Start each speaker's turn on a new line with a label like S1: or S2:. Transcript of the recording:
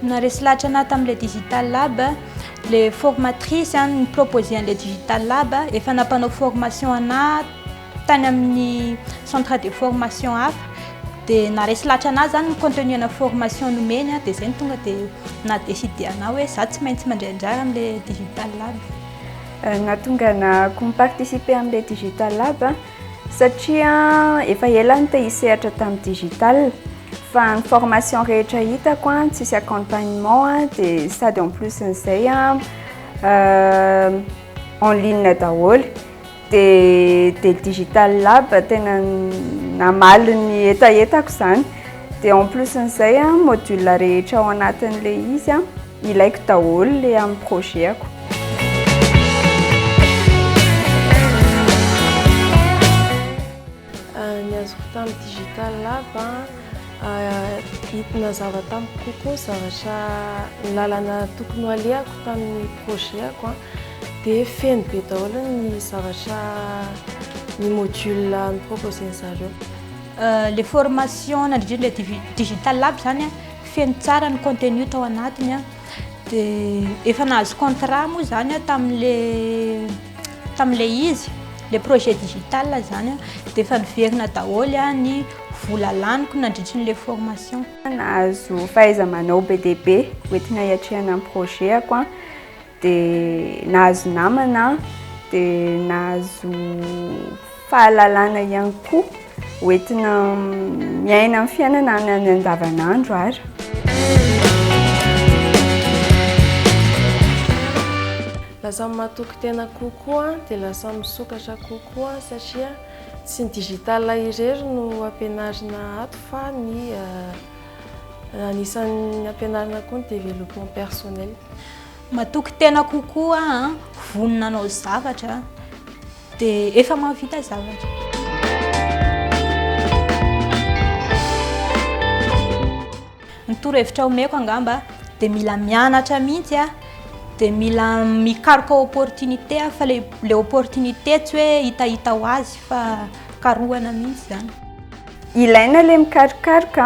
S1: Naharesy lahatra anah tamin'ilay Digital Lab, ilay formatrice nipropose an'ilay Digital Lab, efa nampanao formation anah, Tany amin'ny centre de formation hafa dia naharesy lahatra anah zany ny contenu ana formation nomeny a, dia zay no tonga dia naha décide anah hoe za tsy maintsy mandray anjara amle digital lab. Nahatonga anah ko mi-participer amle digital lab satria efa ela aho te-hisehatra tamin'ny digital fa ny formation rehetra hitako a tsisy accompagnement a dia sady en plus n'izay a en ligne daholo. Dia dia Digital Lab tena namaly ny hetahetako izany. Dia en plus an'izay an, module rehetra ao anatin'ilay izy an, ilaiko daholo ilay amin'ny projet-ako. Ny azoko tamin'ny Digital Lab an, hita nazava tamiko kokoa ny zavatra, ny lalana tokony ho alehako tamin'ny projet-ako an. dia feno be daholo ny zavatra ny module noproposen'ny zareo. le formation nandrindriny le digital lab zany feno tsara ny contenu tao anatiny dia efa nahazo contrat moa zany tamin'le tamin'le izy le projet digital zany dia efa niverina daholo ny vola laniko nandritra ny le formation nahazo fahaiza-manao be dia be hoentina hiatrehana ny projet-ako dia nahazo namana dia nahazo fahalalana ihany koa hoentina miaina amin'ny fiainana any any andavanandro ary lasa matoky tena kokoa dia lasa misokatra kokoa satria tsy ny digital irery no ampianarina ato fa ny eh, anisan'ny ampianarina koa ny développement personnel matoky tena kokoa an vonona anao zavatra dia efa mahavita zavatra ny torohevitra omeko angamba dia mila mianatra mihitsy a dia mila mikaroka opportunité fa le le opportunité tsy hoe hitahita ho azy fa karohana mihitsy zany ilaina le mikarokaroka